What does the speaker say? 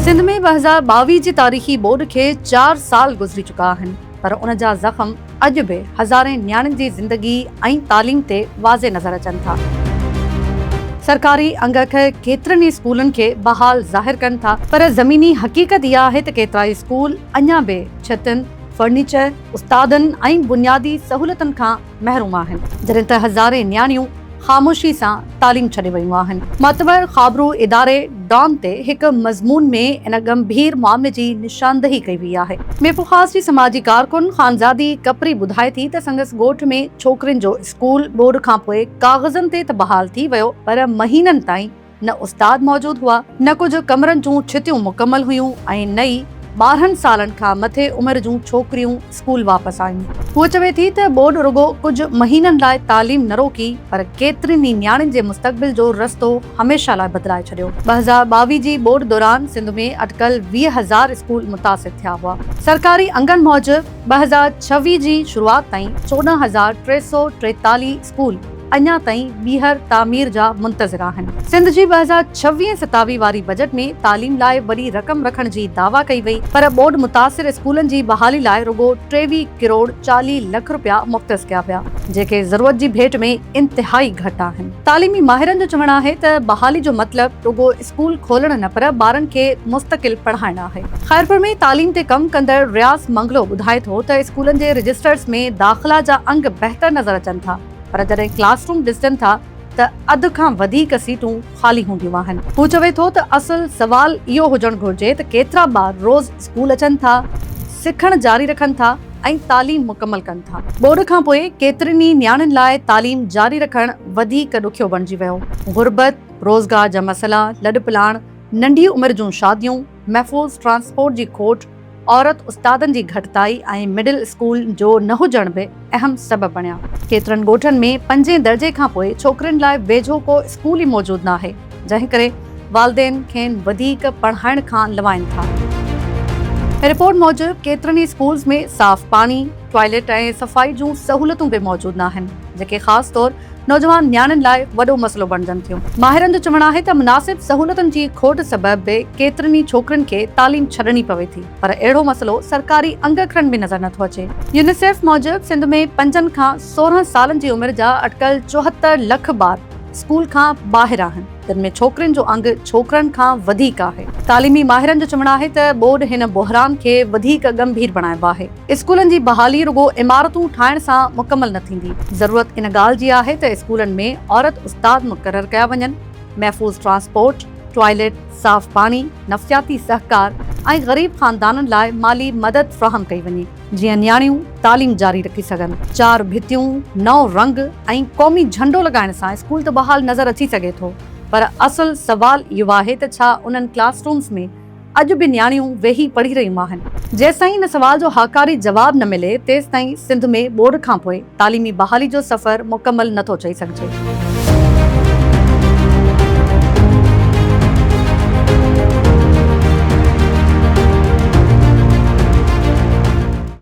سنڌ ۾ ٻه هزار ٻاويهه جي تاريخي ٻوڏ کي چار سال گذري چڪا آهن پر ان جا زخم اڄ به هزارين نياڻين جي زندگي ۽ تعليم تي واضح نظر اچن ٿا. سرڪاري اڳڪ ڪيترن ئي اسڪولن کي بحال ظاهر ڪن ٿا پر زميني حقيقت اها آهي ته ڪيترائي اسڪول اڃا به ڇتن، فرنيچر، استادن ۽ بنيادي سهولتن کان محروم آهن، جڏهن ته هزارين نياڻيون خاموشي سان تعليم ڇڏي ويون آهن. معتبر خابرو اداري ڊان تي هڪ مضمون ۾ ان ڳنڀير معاملي جي نشاندهي ڪئي وئي آهي. ميرپورخاص جي سماجي ڪارڪن خانزادي ڪپري ٻڌائي ٿي ته سندس ڳوٺ ۾ ڇوڪرين جو اسڪول ٻوڏ کانپوء ڪاغذن تي ته بحال ٿي ويو پر مهينن تائين نه استاد موجود هئا، نه ڪجهه ڪمرن جون ڇتيون مڪمل هيون ۽ نه ئي ٻارهن سالن کان مٿي عمر جون ڇوڪريون اسڪول واپس آيون. هوء چوي ٿي ته ٻوڏ رڳو ڪجهه مهينن لاء تعليم نه روڪي پر ڪيترين ئي نياڻين جي مستقبل جو رستو هميشه لاء بدلائي ڇڏيو. ٻه هزار ٻاويهه جي ٻوڏ دوران سنڌ ۾ اٽڪل ويهه هزار اسڪول متاثر ٿيا هئا. سرڪاري انگن موجب ٻه هزار ڇويهه جي شروعات تائين چوڏهن هزار ٽي سؤ ٽيتاليهه اسڪول اڃا تائين ٻيهر تعمير جا منتظر آهن. سنڌ جي ٻه هزار ڇويهه ستاويهه واري بجيٽ ۾ تعليم لاء وڏي رقم رکڻ جي دعويٰ ڪئي وئي پر ٻوڏ متاثر اسڪولن جي بحالي لاء رڳو ٽيويهه ڪروڙ چاليهه لک رپيا مختص ڪيا ويا جيڪي ضرورت جي ڀيٽ ۾ انتهائي گهٽ آهن. تعليمي ماهرن جو چوڻ آهي ته بحالي جو مطلب رڳو اسڪول کولڻ نه پر ٻارن کي مستقل پڙهائڻ آهي. خيرپور ۾ تعليم تي ڪم ڪندڙ رياض منگلو ٻڌائي ٿو ته اسڪولن جي رجسٽرز ۾ داخلا جا انگ بهتر نظر اچن ٿا پر جڏهن ڪلاس روم ڏسجن ٿا ته اڌ کان وڌيڪ سيٽون خالي هونديون آهن. هو چوي ٿو ته اصل سوال اهو هجڻ گهرجي ته ڪيترا ٻار روز اسڪول اچن ٿا، سکڻ جاري رکن ٿا ۽ تعليم مڪمل ڪن ٿا. ٻوڏ کان پوء ڪيترن ئي نياڻين لاء تعليم جاري رکڻ وڌيڪ ڏکيو بڻجي ويو. غربت، روزگار جا مسئلا، لڏپلاڻ، ننڍي عمر جون شاديون، محفوظ ٽرانسپورٽ جي کوٽ، عورت استادن جي گهٽتائي ۽ مڊل اسڪول جو نه هجڻ به اهم سبب بڻيا. ڪيترن ڳوٺن ۾ پنجين درجي کان پوء ڇوڪرين لاء ويجهو ڪو اسڪول ئي موجود ناهي، جنهن ڪري والدين کين وڌيڪ پڙهائڻ کان لوائين ٿا. رپورٽ موجب ڪيترن ئي اسڪولز ۾ صاف پاڻي، ٽوائلٽ ۽ صفائي جون سهولتون به موجود ناهن، جيڪي خاص طور نوجوان نياڻين لاء وڏو مسئلو بڻجن ٿيون، ماهرن جو چوڻ آهي ته مناسب سهولتن جي کوٽ سبب به ڪيترين ئي ڇوڪرين کي تعليم ڇڏڻي پوي ٿي پر اهڙو مسئلو سرڪاري انگرکڙن ۾ نظر نٿو اچي، يونيسيف موجب سنڌ ۾ پنجن کان سورهن سالن جي عمر جا اٽڪل چوهتر لک ٻار اسڪول کان ٻاهر آهن جن ۾ ڇوڪرين جو انگ ڇوڪرن کان وڌيڪ آهي، تعليمي ماهرن جو چوڻ آهي ته ٻوڏ هن بحران کي وڌيڪ ڳنڀير بڻايو آهي. اسڪولن جي بحالي رڳو عمارتون ٺاهڻ سان مڪمل نه ٿيندي، ضرورت ان ڳالهه جي آهي ته اسڪولن ۾ عورت استاد مقرر ڪيا وڃن، محفوظ ٽرانسپورٽ، ٽوائلٽ، صاف پاڻي، نفسياتي سهڪار ۽ غريب خاندانن لاء مالي مدد فراهم ڪئي وڃي، جيئن نياڻيون تعليم جاري رکي سگهن. چار ڀتيون، نو رنگ ۽ قومي جهنڊو لڳائڻ سان اسڪول ته بحال نظر اچي سگهي ٿو، پر اصل سوال اهو آهي ته ڇا انهن ڪلاس رومز ۾ اڄ به نياڻيون ويهي پڙهي رهيون آهن. جيسين ان سوال جو هاڪاري جواب نه ملي تيستائين سنڌ ۾ ٻوڏ کانپوء تعليمي بحالي جو سفر مڪمل نه ٿو چئي سگهجي.